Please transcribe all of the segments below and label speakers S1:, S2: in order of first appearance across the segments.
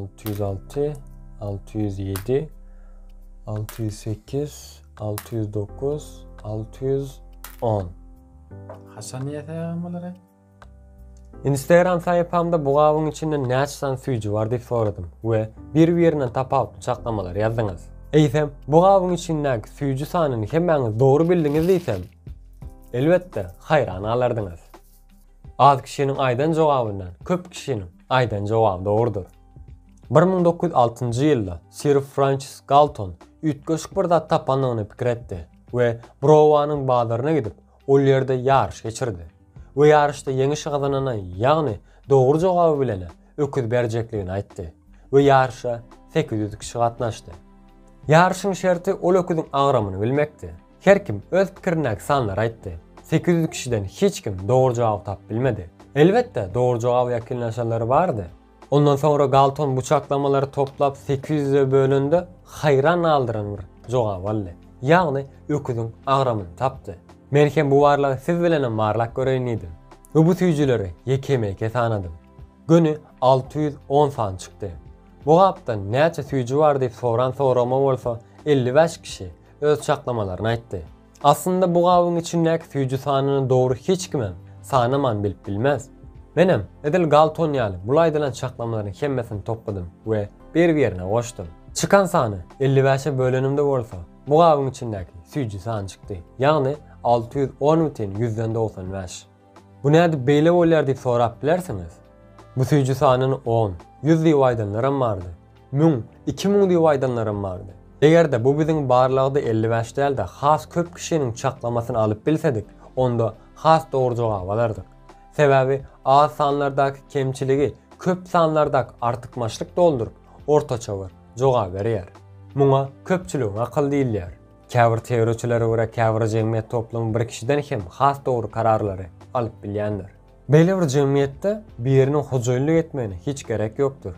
S1: Alty ýüz alty, alty ýüz ýedi, alty ýüz sekiz,
S2: alty ýüz dokuz, alty ýüz on. Haçan ýetägem bulara?
S1: Instagram saýpamda bu gabyň içinde näçe san süýji bar diýip soradym we bir-birinden tapawutly çaklamalary ýazdyňyz. Eýsem, bu gabyň içindäki süýji sanyny hemmäňiz dogry bildiňiz diýsem, elbetde, haýran galardyňyz. Az kişiniň aýdan jogabyndan köp kişiniň Aýdan jogap dogrudyr. Bir müň dokuz ýüz altynjy ýylda sir Françis Galton üýtgeşik bir zat tapandygyny pikir etdi we Browanyň bazaryna gidip, ol ýerde ýaryş geçirdi we ýaryşda ýeňişi gazanana, ýagny dogry jogaby bilene öküz berjekligini aýtdy we ýaryşa sekiz ýüz kişi gatnaşdy. Ýaryşyň şerti ol öküziň agramyny bilmekdi. Her kim öz pikirindäki sanlary aýtdy. Sekiz ýüz kişiden hiç kim dogry jogaby tapyp bilmedi. Elbetde, dogry jogaba ýakynlaşanlary bardy. Ondan soňra Galton bu çaklamalary toplap sekiz ýüze bölende haýran galdyran bir jogap aldy. Ýagny öküziň agramyny tapdy. Men hem bu barlagy siz bilenem barlap göreýin diýdim. We bu süýjüleri ýekemeýke sanadym. Göni alty ýüz on sany çykdy. Bu gapda näçe süýji bar diýip soran soragyma bolsa elli bäş kişi öz çaklamalaryny aýtdy. Aslynda bu gabyň içindäki süýji sanyny dogry hiç kimem sanaman bilip bilmez. Menem, edil Galton ýaly bul aýdylan çaklamalaryň hemmesini topladym we bir-birine goşdum. Çykan sany elli bäşe bölenimde bolsa, bu gabyň içindäki süýji sany çykdy, ýagny alty ýüz on bitin ýüzden dogsan bäş. Bu nädip beýle bolýar diýip sorap bilersiňiz. Bu süýji sanyny on, ýüz diýip aýdanlaram bardy. Müň, iki müň diýip aýdanlaram bardy. Eger-de bu biziň barlagda elli bäş däl-de has köp kişiniň çaklamasyny alyp bilsedik, onda has dogry jogap alardyk. Sebäbi az sanlardaky kemçiligi köp sanlardaky artykmaçlyk dolduryp, ortaça bir jogaby berýär. Muňa köpçüligiň akyly diýilýär. Käbir teoriýaçylara görä käbir jemgyýet toplumy bir kişiden hem has dogry kararlary alyp bilýändir. Beýle bir jemgyýetde biriniň hojaýynlyk etmegine hiç gerek ýokdur.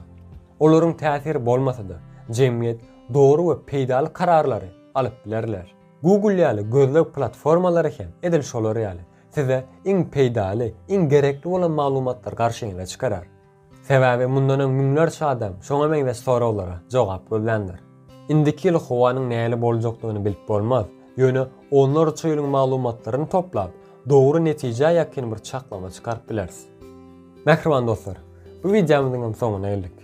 S1: Olaryň täsiri bolmasa-da, jemgyýet dogry we peýdaly kararlary alyp bilerler. Google ýaly gözleg platformalary hem edil şolar ýaly, size iň peýdaly, iň gerekli bolan maglumatlary garşyňyza çykarar. Sebäbi mundan öň müňlerçe adam şoňa meňzeş soraglara jogap gözländir. Indiki ýyl howanyň nähili boljakdygyny bilip bolmaz, ýöne onlarça ýylyň maglumatlaryny toplap, dogry netijä ýakyn bir çaklama çykaryp bileris. Mähriban dostlar, bu wideomyzyň hem soňuna geldik.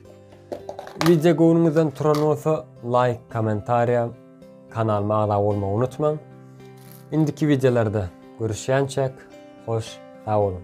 S1: Wideo göwnüňizden turan bolsa, laýk, kommentariýa, kanalyma agza bolmagy unutmaň. Indiki wideolarda görüşýänçäk, hoş, sag boluň!